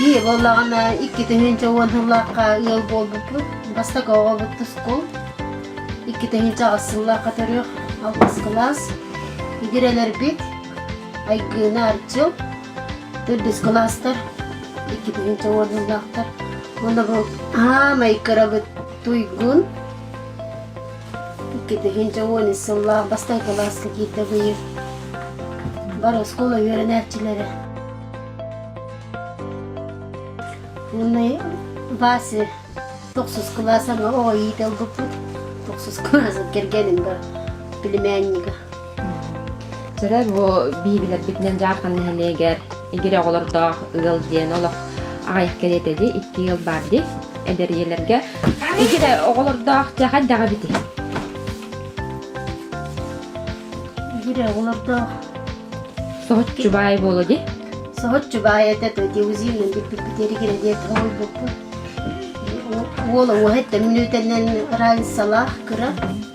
Бии боллаҕына иккитинчи уон сылларга ыал буолбуппут. Бастакы оҕобут тускул. Иккитинчи аҕыс сылларга төрүөх алгыс кылаас. Идирэлэрбит Айгыына Арчыл, Үрдүскү маастар, иккитигин чоҥордуулаахтар. Уонна бу аамай кырабыт туйгун, иккитигин чоҥуонис сыллаах бастай кылааска киирдэ быйыл. Бар оскуола үөрэнээччилэрэ. Уонна Вася тохсус кылааса оҕо иит албыппыт. Тохсус кылааса кэргенин бар племяннига. Сырар бу биһиилэрбитинэн Дьаархан нэһилиэгэр Игирэ оҕолордоох ыал диэн олох аҕайах кэриэтэ дии, икки ыал баар дии. Эдэр ийэлэргэ Игирэ оҕолордоох дьэ хайдаҕа бити? Игирэ оҕолордоох Соһут Чубай буолу дии. соһут чубай этот диузинный биппит эригире диэт уолбуппут уола уоһыттан мүнүүтэннэн раньсалаах кыра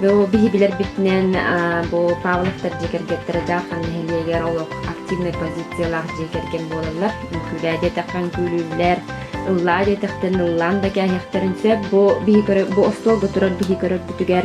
Бу биһи билэрбитинэн бу Павловтар дьиэ кэргэттэрэ Дахан нэһилиэгэр олох активнай позициялаах дьиэ кэргэн буолаллар. Үҥкүүлээ диэтэххэ үҥкүүлүүллэр, ыллаа диэтэхтэн ыллаан да кээһиэхтэрин сөп. Бу биһи көрө бу остуолга турар биһи көрөрбүтүгэр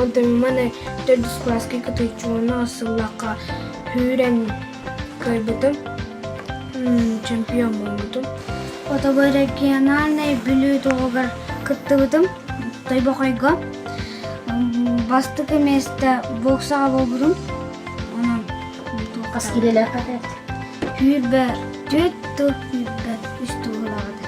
Онтон маны төрдүс класска кытыыччы уонна сыллахха күүрэн кыайбытым, чемпион буолбутум. Фотографиональнай бүлүү туһугар кыттыбытым Тойбохойго. Бастакы месте боксаҕа буолбутум. Онон Хас килэлээххэ эт? Күүрбэр. Түт тыл күүрбэр. Үс туһулааҕыта.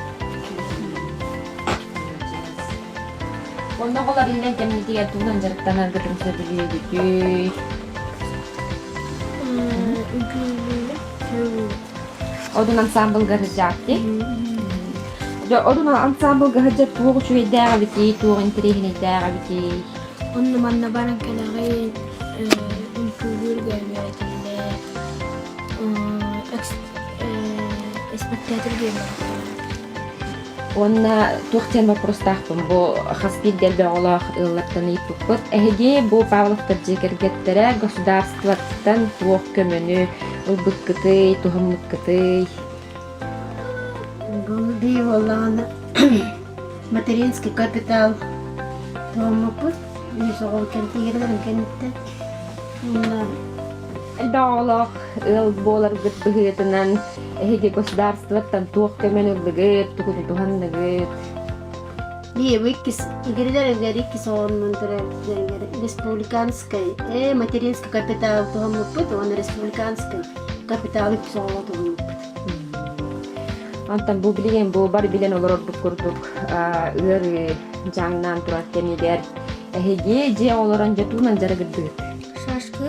Онно хола биллэн кэмнитигэр тугунан дьарыктанаргытын сөбүлүөгүтүй? Одун ансамблга сыдьаапти. Одун ансамблга сыдьа туох үчүгэйдээх эбитий, туох интэриэһинэйдээх эбитий? Онно манна баран кэнэҕэй үҥкүүлүүр гөөбүөр этиллэ, испэктээкил биэрбэтэхтэрэ. Уонна туох диэн боппуруостаахпын бу хас биирдии элбэх оҕолоох ыаллартан ыйыппыппыт. Эһиги бу Павловтар дьиэ кэргэттэрэ государствоттан туох көмөнү ылбыккытый, туһаммыккытый? Бу бии буоллаҕына Материнский капитал тооммуппут үһүс оҕол кэнтигилэрин кэнниттэн уонна элбэх оҕолоох ыал буоларгыт быһыытынан эһиги государствоттан туох көмөнү ыллыгыт, тугу тутуһанныгыт? Биир иккис игирилэригэр иккис оҕонмун төрөөбүттэригэр республиканскай э материнский капитал туһаммыппыт уонна республиканскай капитал үкс оҕоҕо туһаммыппыт. Онтон бу билигин бу бары билэн олор ордук курдук ыарыы дьаҥнаан турар кэмигэр эһиги дьиэ олорон дьотуунан дьарыгырдыгыт. Шашкы.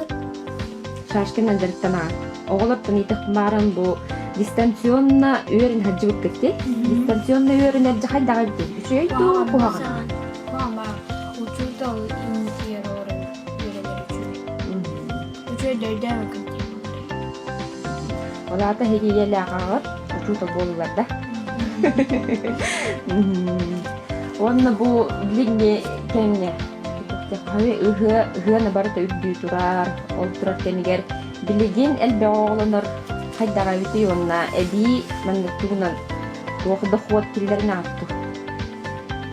Шашкынан дьарыктанаар. Оҕолортон итих бааран бу дистанционно үөрүн хаджыбыт кытты. Дистанционно үөрүн эрже хайдаҕы бит. Үчүй дуу куһаҕан. Мама, учурда Үтүө дөйдөөбөкүн. Ол аата иһириилэлээх аҕар учуутал буоллулар да. Уонна бу билиҥҥи кэмҥэ ыһыа ыһыаны барыта үрдүү турар. Ол турар кэмигэр билигин элбэх оҕолонор хайдаҕайытый уонна эбии маннык тугунан туох дохуот киллэрин ааттыыр.